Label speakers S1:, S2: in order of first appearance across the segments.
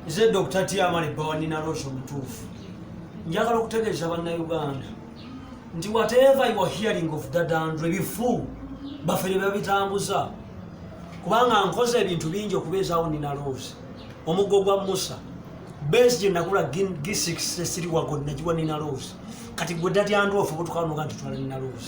S1: nze dr tiamale bawanina rosh omutuufu njagala okutegeeza bannauganda nti whatever you are hearing of dadandre bifu bafere babitambuza kubanga nkoze ebintu bingi okubeezaawo nina rosh omuggo gwa musa base gye nagula gisix esiriwago nagiwa nina rosh kati gwe dadyandrof obutukanuga nti twala nina rosh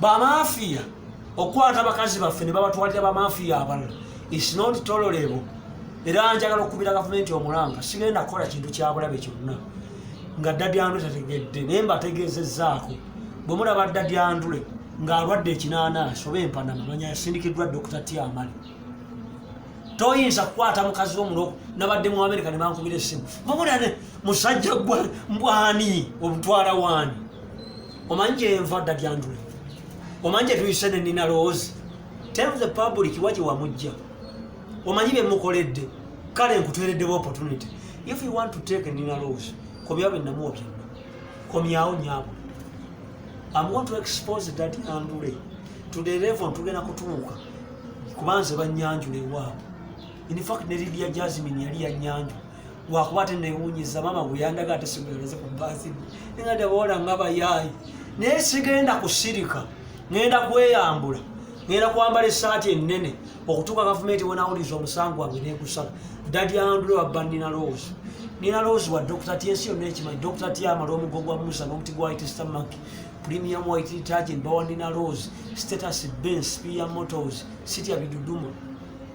S1: bamafiya okukwata abakazi baffe ne babatwalira bamafiya abalala is not tolerable era njagala okukubira gavumenti omulanga sigenda kukola kintu kyabulabe kyonna nga dadyandule tategedde naye mbategeezezaako bwe mulaba dadyandule ng'alwadde ekinaanansi oba empanama manya yasindikiddwa dokita tiamale toyinza kukwata mukazi wo muno nabadde mu amerika ne bankubira essimu mubulane musajja gwa mbwani omutwala waani omanyi gyenva dda dyandule omanyi gyetuyise ne nina lowoozi tell the public wa gye wamujja omanyi bye mukoledde kale nkuteereddewo opportunity if you want to take nina lowoozi komyawo bye namuwa byonna komyawo nyabo am going to expose dad andule to the level ntugenda kutuuka kubanze banyanjula ewaabwe in fact ne lidia jasmine yali yanyanjula lwakuba ate newunyiza maama bweyandaga ate simulereze ku baasi ninga deboola nga bayaayi naye sigenda kusirika ngenda kweyambula ngenda kwambala esaati enene okutuuka gavumenti wenawuliza omusango wange negusala dadi andule wabba nina loozi nina loozi wa dokita ti ensi yonna ekimanyi dokita ti amala omugo gwa musa n'omuti gwa white stomach premium white detergent bawa nina loozi status ben spear motors sitya biduduma